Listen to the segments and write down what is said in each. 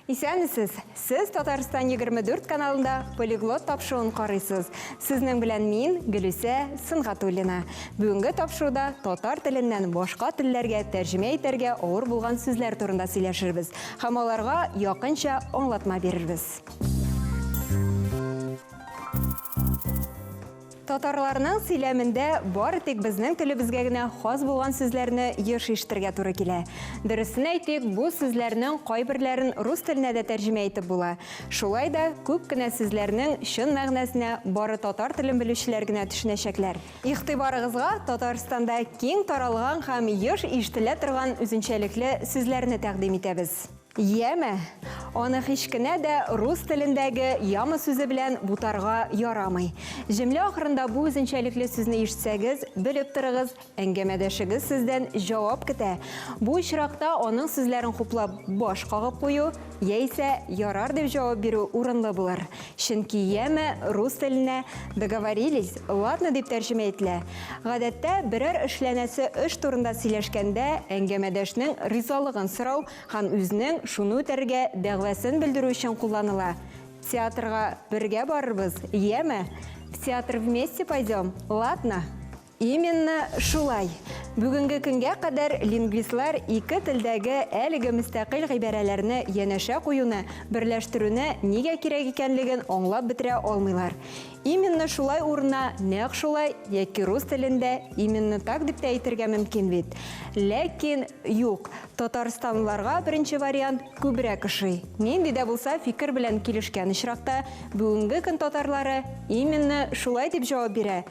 Исәнмесез! Сез Татарстан 24 каналында полиглот тапшыуын карыйсыз. Сезнең белән мин, Гөлүсә Сынгатуллина. Бүгенге тапшыруда татар теленнән башка телләргә тәрҗемә итәргә авыр булган сүзләр турында сөйләшербез. Һәм аларга якынча аңлатма бирербез. Татарларның сөйләмендә бары тик безнең телебезгә генә хас булган сүзләрне еш ишетергә туры килә. Дөресен әйтик, бу сүзләрнең кайберләрен рус теленә дә тәрҗемә итеп була. Шулай да күп кенә сүзләрнең чын мәгънәсенә бары татар телен белүчеләр генә төшенәчәкләр. Игътибарыгызга Татарстанда киң таралган һәм еш ишетелә торган үзенчәлекле сүзләрне тәкъдим итәбез. Яма. Аны һичкенә дә рус телендәге яма сүзе белән бутарга ярамый. Җөмлә ахырында бу үзенчәлекле сүзне ишетсәгез, белеп торыгыз, әңгәмәдәшегез сездән җавап көтә. Бу очракта аның сүзләрен хуплап баш кагып кую Яисә ярар дип җавап бирү урынлы булыр. Чөнки яме рус теленә договорились, ладно дип тәрҗемә ителә. Гадәттә, берәр эшләнәсе эш турында сөйләшкәндә, әңгәмәдәшнең ризалыгын сорау һәм үзенең шуны үтәргә дәгъвасын белдерү өчен кулланыла. Театрга бергә барырбыз, яме? В театр вместе пойдем, ладно? Именно шулай. Бүгенге көнгә кадәр лингвистлар ике телдәге әлеге мөстәкыйль гыйбарәләрне янәшә куюны, берләштерүне нигә кирәк икәнлеген аңлап бетерә алмыйлар. Именно шулай урынына нәкъ шулай яки рус телендә именно так дип тә әйтергә мөмкин бит. Ләкин, юк, татарстанлыларга беренче вариант күбрәк ошый. Нинди дә булса фикер белән килешкән очракта, бүгенге көн татарлары именно шулай дип җавап бирә.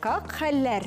Как хәлләр?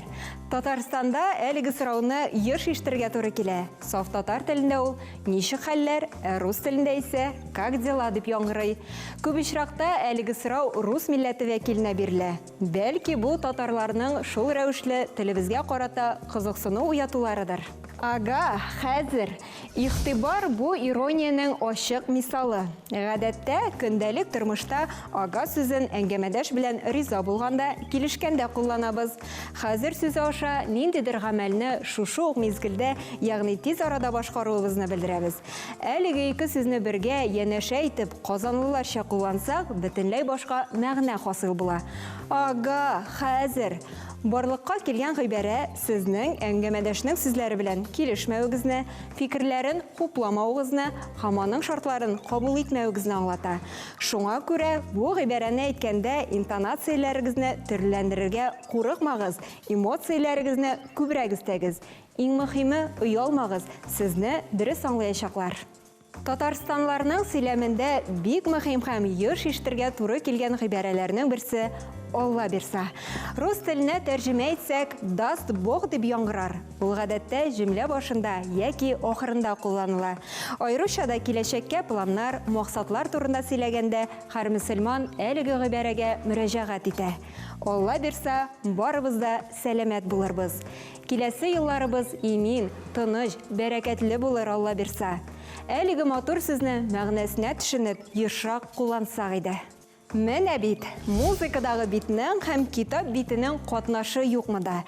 Татарстанда әлеге сорауны еш ишетергә туры килә. Саф татар телендә ул ничек хәлләр, ә рус телендә исә как дела дип яңгырый. Күп очракта әлеге сорау рус милләте вәкиленә бирелә. Бәлки бу татарларның шул рәвешле телебезгә карата кызыксыну уятуларыдыр? Ага, хәзер, Игътибар бу ирониянең ачык мисалы. Гадәттә, көндәлек тормышта ага сүзен әңгәмәдәш белән риза булганда, килешкәндә кулланабыз. Хәзер сүзе аша ниндидер гамәлне шушы ук мизгелдә, ягъни тиз арада башкаруыбызны белдерәбез. Әлеге ике сүзне бергә, янәшә итеп, казанлыларча куллансак, бөтенләй башка мәгънә хасил була. Ага, хәзер! Барлыкка килгән гыйбарә Сезнең әңгәмәдәшнең сүзләре белән килешмәвегезне, фикерләрен хупламавыгызны һәм аның шартларын кабул итмәвегезне аңлата. Шуңа күрә бу гыйбарәне әйткәндә интонацияләрегезне төрлеләндерергә курыкмагыз, эмоцияләрегезне күбрәк өстәгез. Иң мөхиме, оялмагыз, сезне дөрес аңлаячаклар. Татарстанларның сөйләмендә бик мөһим һәм еш ишетергә туры килгән гыйбарәләрнең берсе, Алла бирса. Рус теленә тәрҗемә итсәк, даст Бог дип яңгырар. Ул гадәттә җөмлә башында яки ахырында кулланыла. Аеруча да киләчәккә планнар, максатлар турында сөйләгәндә һәр мөселман әлеге гыйбарәгә мөрәҗәгать итә. Алла бирса, барыбыз да сәламәт булырбыз. Киләсе елларыбыз имин, тыныч, бәрәкәтле булыр, Алла бирса. Әлеге матур сүзне мәгънәсенә төшенеп, ешрак куллансак иде. Менә бит, музыкадагы битнең һәм китап битенең катнашы юкмы да!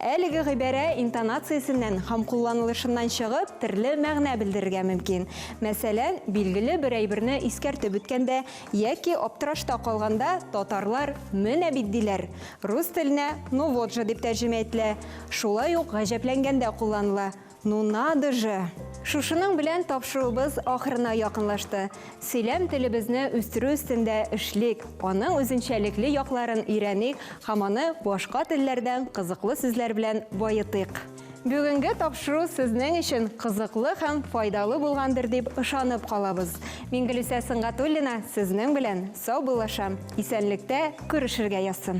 Әлеге гыйбарә интонациясеннән һәм кулланылышыннан чыгып, терле мәгънә белдерергә мөмкин. Мәсәлән, билгеле бер әйберне искәртеп үткәндә, Яки аптырашта калганда, татарлар менә бит диләр. Рус теленә ну вот же дип тәрҗемә ителә. Шулай ук гаҗәпләнгәндә кулланыла, ну надо же! Шушының белән тапшыруыбыз ахырына якынлашты. Сөйләм телебезне үстерү өстендә эшлик, аның үзенчәлекле якларын өйрәник һәм аны башка телләрдән кызыклы сүзләр белән баетыйк. Бүгенге тапшыру сезнең өчен кызыклы һәм файдалы булгандыр дип ышанып калабыз. Мингелүсә Сынгатуллина сезнең белән сау булашам. Исәнлектә күрешергә язсын.